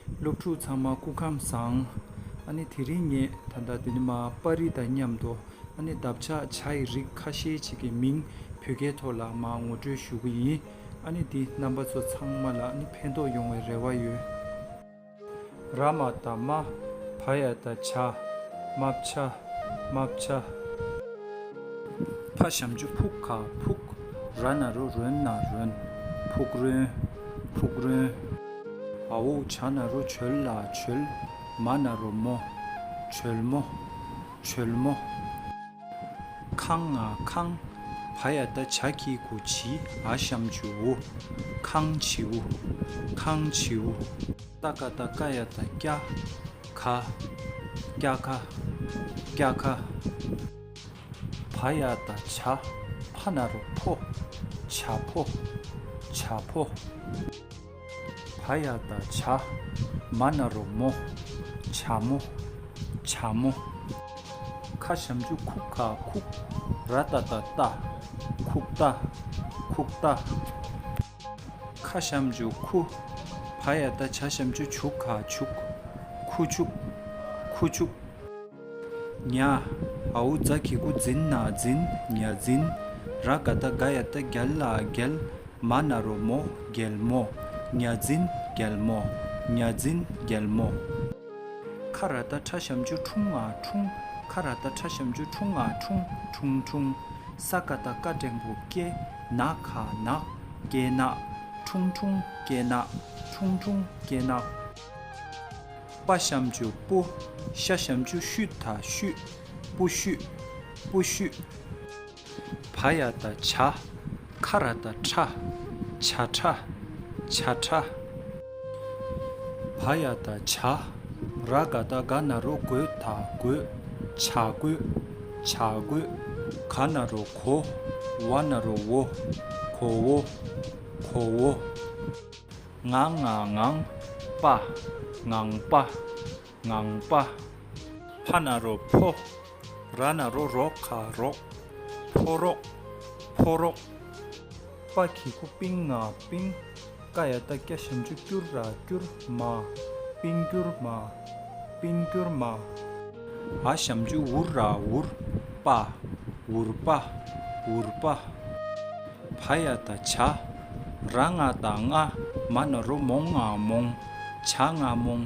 སློབ་ཕྲུག་ཚང་མ་སྐུ་ཁམས་བཟང། ཨ་ནི་དེ་རིང་ངས་ད་ལྟ་འདི་ནི་མ་པཱ་རི་དང་མཉམ་དུ་ཨ་ནི་འདབ་ཆགས་བྱ་ཡི་རིགས་ཁ་ཤས་ཅིག་གི་མིང་བོད་སྐད་ཐོག་ལ་མ་ངོ་སྤྲོད་ཞུ་གི་ཡིན་ཨ་ནི་འདི་རྣམ་པ་ཚོ་ཚང་མ་ལ་ནི་ཕན་ཐོགས་ཡོང་བའི་རེ་བ་ཡོད། ར་མ་དང་མ་བྷ་ཡ་དང་བྱ། མ་བྱ། མ་བྱ། ཕ་བྱམས་ཆུ་ཕུག་ཁ་ཕུག། ར་ན་རུ་རོན་ན་རོན། ཕུག་རོན། ཕུག་རོན། ཨོའོ་བྱ་ན་རོ་བྱོལ་ལ་བྱོལ། མ་ན་རོ་མོ། བྱོལ་མོ། བྱོལ་མོ། ཁང་ང་ཁང། བ་ཡ་ད་བྱ་ཁྱི་གུ་བྱི་ཨ་བཤམ་བྱིའུ། ཁང་བྱིའུ། ཁང་བྱིའུ། ད་ཀ་ད་ཀ་ཡ་ད་སྐྱ། ཁ། སྐྱ་ཁ། སྐྱ་ཁ། བ་ཡ་ད་བྱ་བྷ་ན་རོ་ཕོ། བྱ་ཕོ། བྱ་ཕོ། བ་ཡ་ད་བྱ་མ་ན་རོ་མོ། བྱ་མོ། བྱ་མོ། ཁ་བྱམས་ཆུ་ཁུག་ཁ་ཁུག་ར་ཏཱ་ཏཱ་རྟ། ཁུག་རྟ། ཁུག་རྟ། ཁ་བྱམས་ཆུ་ཁུ། བ་ཡ་ད་བྱ་བྱམས་ཆུ་ཆུག་ཁ་ཆུག། ཁུ་ཆུག། ཁུ་ཆུག། ཉ། ཨའུ་རྫ་ཁྱི་དགུ་འཛིན་ན་འཛིན་ཉ་འཛིན། ར་དགའ་རྟ་དགའ་ཡ་རྟ་རྒྱལ་ལ་རྒྱལ། མ་ན་རོ་མོ་རྒྱལ་མོ་ཉ་འཛིན་རྒྱལ་མོ་ཉ་འཛིན་རྒྱལ་མོ། ཁ་ར་རྟ་ཁྲ་ཤམ་ཆུ་འཁྲུངས་ང་འཁྲུངས་ཁ་ར་རྟ་ཁྲ་ཤམ་ཆུ་འཁྲུངས་ང་འཁྲུངས་འཁྲུངས་འཁྲུངས། ས་ཀ་རྟ་ཀ་འགྲེང་བུ་སྐྱེ་ན་ཁ་ན་སྐྱེ་ན་འཁྲུངས་འཁྲུངས་སྐྱེ་ན་འཁྲུངས་འཁྲུངས་སྐྱེ་ན། དཔའ་བཤམ་ཆུ་སྤུ། ཤ་བཤམ་ཆུ་ཤུ་ད་ཤུ། སྤུ་ཤུ། སྤུ་ཤུ། བ་ཡ་ད་བྱ། ཁ་ར་ད་ཁྲ། བྱ་ཁྲ། བྱ་ཁྲ། བ་ཡ་ད་བྱ། ར་ག་ད་ག་ན་རོ་གོས་ད་གོས། བྱ་གོས། བྱ་གོས། ག་ན་རོ་གོ། བ་ན་རོ་བོ། གོ་བོ། གོ་བོ། ངང་ངང་ངང་པ་ངང་པ་ངང་པ། ཕ་ན་རོ་ཕོ་ར་ན་རོ་རོ་ཁ་རོག་ཕོ་རོག་ཕོ་རོག། པ་གི་ཁུ་པིང་ང་པིང་ཀ་ཡ་ཏཱ་ཀྱ་ཞིམ་ཅུ་ཀྱུར་ར་ཀྱུར་མ་པིང་ཀྱུར་མ། པིན་ཀྱོར་མ། ཨ་ཞམ་ཅུ་འུར་ར་འུར་པ། འུར་པ། འུར་པ། བ་ཡ་ད་བྱ། ར་ང་ད་ང། མ་ན་རོ་མོང་ང་མོང། བྱ་ང་མོང།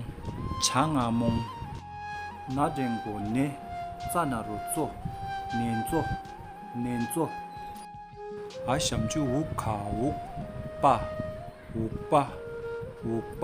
བྱ་ང་མོང། ན་འགྲེང་གོ་ནེ། ཙ་ན་རོ་ཙོ། ནེན་ཙོ། ནེན་ཙོ། ཨ་ཞམ་ཅུ་འུག་ག་འུག་པ། འུག་པ། འུག་པ།